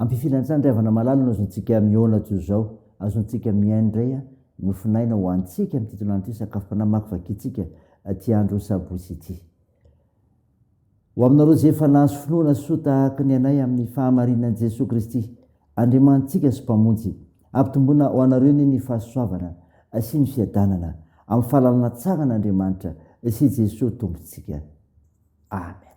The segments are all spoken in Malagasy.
Ampifidy an-tsaha indray havana malala no azontsika mihaona toy izao, azontsika mihaino indray an, nofonaina ho antsika amin'ity tolàna ity sakafom-panahy makivakintsika ity andro sabotsy ity. Ho aminareo izay efa nahazo finoana soa tahaka ny anay amin'ny fahamarinan'i Jesoa Kristy, Andriamanitsika sy Mpamonjy, ampitomboina ho anareo anie ny fahasoavana sy ny fiadanana amin'ny fahalalana tsara an'Andriamanitra sy Jesoa Tompontsika. Amen.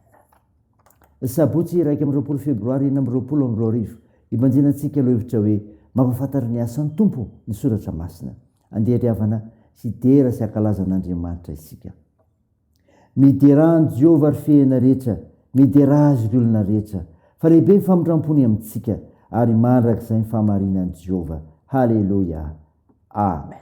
Ny sabotsy iraika amby roapolo febroary enina amby roapolo amby roa arivo, ibanjina antsika lohevitra hoe, Mampahafantaru ny asan'ny Tompo ny soratra masina. Andeha ry havana hidera sy hankalaza an'Andriamanitra isika. Miderà an'i Jehovah ry fehena rehetra, miderà Azy ry olona rehetra, fa lehibe ny famindram-pony amintsika, ary mandrakizay ny fahamarinan'i Jehovah. Haleloia! Amen.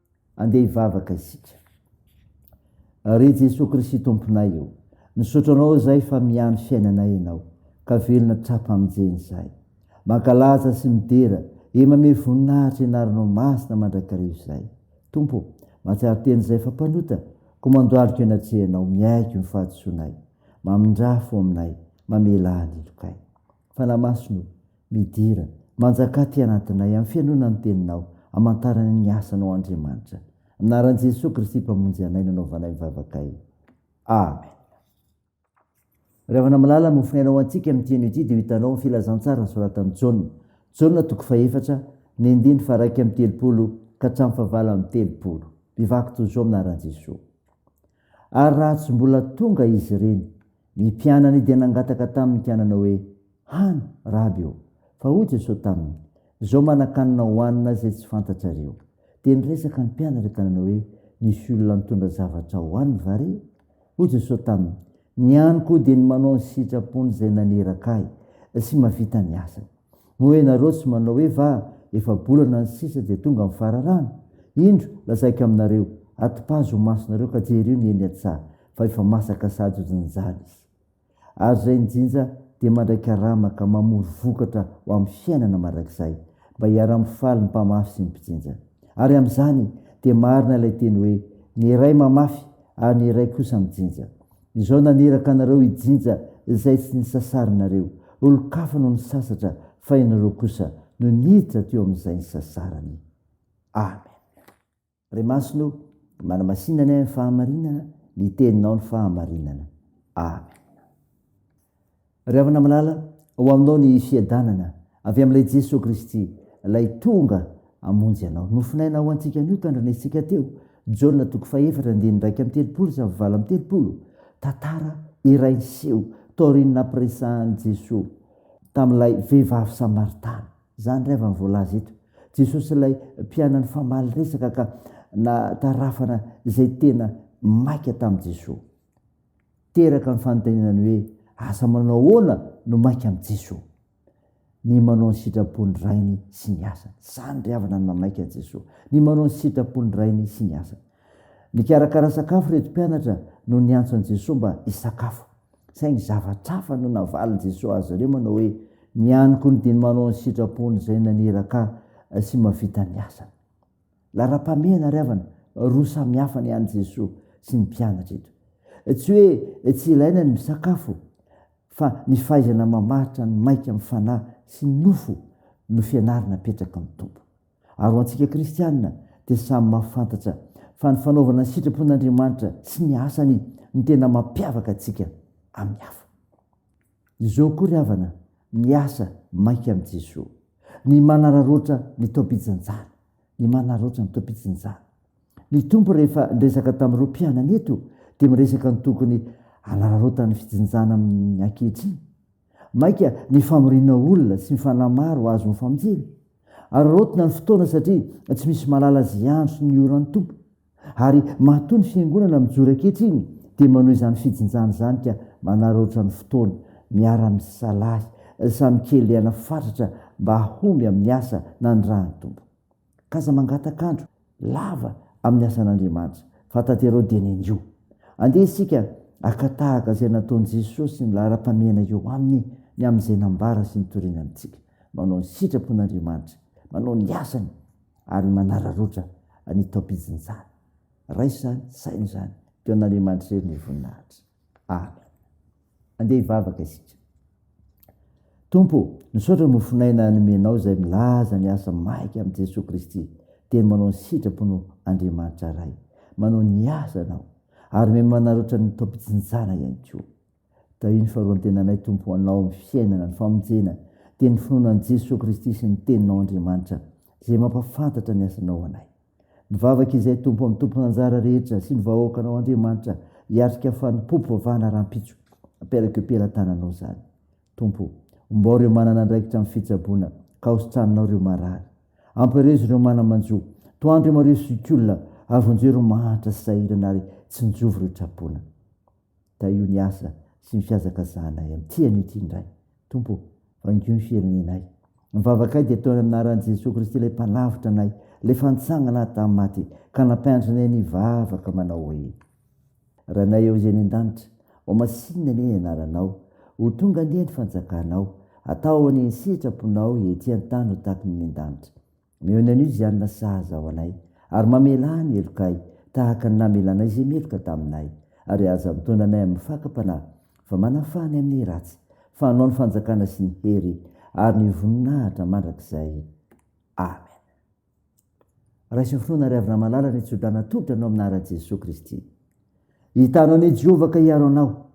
Andeha hivavaka isika. Ry Jesoa Kristy Tomponay o, misaotra Anao izay fa mihahy ny fiainanay Ianao, ka velona hatrampamijeny izay. Mankalaza sy midera, e mamehy voninahitra ny Anaranao Masina mandrakariva izay. Tompo o, mahatsiaro tena izay fa mpanota, koa mandohalika eo anatrehanao, miaiky ny fahadisoanay. Mamindrà fo aminay, mamela ahy ny lokay. Fanahy Masina o, Midira, manjakà aty anatinay, amin'ny fihainoana ny Teninao, amantarana ny asanao Andriamanitra. Amin'ny anaran'i Jesoa Kristy Mpamonjy anay no anaovanay ny vavakay. Amen. Ry havana malala, mofonaina ho antsika amin'ity anio ity dia ho hitanao ny filazantsara nosoratan'i Jaona. Jaona toko fahefatra, ny andininy faharaika amby telopolo ka hatramin'ny fahavalo amby telopolo. Mivaky toy izao amin'ny anaran'i Jesoa. Ary raha tsy mbola tonga izy ireny, Ny mpianany dia nangataka taminy ka nanao hoe, Hano, Raby ô! Fa hoy Jesosy taminy, Izao manan-kanina hohanina izay tsy fantatrareo. Dia niresaka ny mpianany ka nanao hoe, Misy olona nitondra zavatra hohaniny va re? Hoy Jesosy taminy, Ny haniko dia ny manao ny sitrapon'izay naneraka ahy sy mahavita ny asany. Moa hoe ianareo tsy manao hoe va efa-bolana ny sisa dia tonga ny fararano? Indro, lazaiko aminareo, atipazo ho masonareo ka jerio ny eny an-tsaha, fa efa masaka sady hojinjana izy. Ary izay nijinja dia mandray karama ka mamory vokatra ho amin'ny fiainana mandrakizay, mba hiara-mifaly ny mpamafy sy ny mpijinja. Ary amin'izany dia marina ilay teny hoe, Ny iray mamafy, ary ny iray kosa mijinja. Izao naniraka anareo hijinja izay tsy nisasarinareo, olon-kafa no nisasatra fa ianareo kosa no niditra teo amin'izay nisasarany. Amen. Ray Masina o, manamasinany ahy ny fahamarinana, ny teninao ny fahamarinana. Amen. Ry havana malala, ho aminao ny fiadanana avy amin'ilay Jesoa Kristy, ilay tonga hamonjy anao. Nofonaina ho antsika anio tandrina isika teo, Jaona toko fahefatra andininy iraika amby telopolo sy valo amby telopolo, tantara iray niseho taorian'ny nampiresahan'i Jesoa tamin'ilay vehivavy samaritana. Izany ry havana voalaza eto, Jesoa sy ilay mpianany famaly resaka ka natarafana izay tena maika tamin'i Jesoa. teraka ny fanontaniana ny hoe asa manao ahoana no maika amin'i Jesoa? Ny manao ny sitrapon'ny Rainy sy ny asany. Izany ry havana ny mamaika an'i Jesoa. Ny manao ny sitrapon'ny Rainy sy ny asany. Nikarakara sakafo ireto mpianatra no niantso an'i Jesoa mba hisakafo. Saingy zavatra hafa no navalin'i Jesoa azy ireo manao hoe, Ny aniko ny dia ny manao ny sitrapon'izay naniraka ahy sy mahavita ny asany. Laharam-pahamehana ry havana, roa samy hafa ny an'i Jesoa sy ny mpianatra eto. Tsy hoe tsy ilaina ny misakafo fa ny fahaizana mamaritra ny maika amin'ny fanahy sy ny nofo no fianarana apetraky ny Tompo. Ary ho antsika kristiana dia samy mahafantatra fa ny fanaovana ny sitrapon'Andriamanitra sy ny asany no tena mampiavaka antsika amin'ny hafa. Izao koa ry havana, miasa maika amin'i Jesoa. Ny manararaotra ny taom-pijanjana, ny manararaotra ny taom-pijanjana. Ny Tompo rehefa niresaka tamin'ireo mpianany eto dia miresaka ny tokony hanararaotan'ny fijinjana amin'ny ankehitriny. Maika ny famoriana olona sy ny fanahy maro hahazo ny famonjena. Araraotina ny fotoana satria tsy misy mahalala izay andro sy ny ora ny Tompo. Ary matoa ny Fiangonana mijoro ankehitriny dia manao izany fijinjana izany ka manararaotra ny fotoana, miara-misalahy, samy kelehana fatratra mba hahomby amin'ny asa nanirahan'ny Tompo. K'aza mangataka andro lava amin'ny asan'Andriamanitra, fa tanterao dieny anio. Andeha isika haka tahaka izay nataon'i Jesosy ny laharam-pahamehana eo Aminy ny amin'izay nambara sy nitoriana amintsika. Manao ny sitrapon'Andriamanitra. Manao ny asany. ary manararotra ny taom-pijinjana. Raisa ny saina izany teo an'Andriamanitra irery ny voninahitra. Amen. Andeha hivavaka isika. Tompo, misaotra ny mofon'aina nomenao izay milaza ny asa maika amin'i Jesoa Kristy, dia manao ny sitraponao Andriamanitra Ray. Manao ny asany aho, ary miha-manarotra ny taom-pijinjana ihany koa. Tahio ny faharoan-tenanay Tompo ho Anao ny fiainana, ny famonjena, dia ny finoana an'i Jesoa Kristy sy ny Teninao Andriamanitra izay mampafantatra ny asanao ho anay. Mivavaka izahay Tompo amin'ny tompon'anjara rehetra sy ny vahoakanao Andriamanitra hiatrika fanompoam-pivavahana rahampitso aperak' eo pelatananao izany. Tompo o, ombao ireo manana andraikitra amin'ny fitsaboana ka hositranonao ireo marary. Ampirezo ireo mana-manjo, tohano ireo mariho zokiolona ary vonjeo ireo mahantra sy sahirana ary tsinjovy ireo trapoina. Tahio ny asa sy ny fihazakazahanay amin'ity anio ity indray. Tompo ô, vangio ny firenenay. Ny vavakay dia toy ny amin'ny anaran'i Jesoa Kristy ilay Mpanavotra anay, ilay efa nitsangana ahy tamin'ny maty ka nampianatra anay nivavaka manao hoe, Ranay ao izay any an-danitra, ho masinina anie ny anaranao, ho tonga anie ny fanjakanao, atao anie ny sitraponao ety an-tany ho tahaka ny any an-danitra. Mihaona an'io Jianina sahaza ho anay, ary mamelà ny helokay, tahaka ny namelanay izay meloka taminay. Ary aza mitaona anay amin'ny fakam-panahy, fa manafaha ny amin'ny ratsy, fa anao ny fanjakana sy ny hery ary ny voninahitra mandrakizay. Amen. Raiso finoana ry havana malala ny tso-drano atolotra anao amin'ny anaran'i Jesoa Kristy. Hitano an'i Jehovah ka hiaro anao.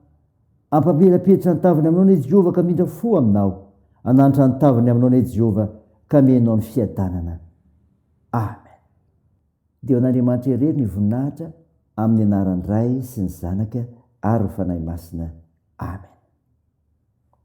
Hampamirapiratra ny taviny aminao anie Jehovah ka hamindra fo aminao. Hananatra ny taviny aminao anie Jehovah ka hamenao ny fiadanana. Amen. Dia ho an'Andriamanitra irery ny voninahitra amin'ny anaran'ny Ray sy ny Zanaka ary ny Fanahy Masina. Amen.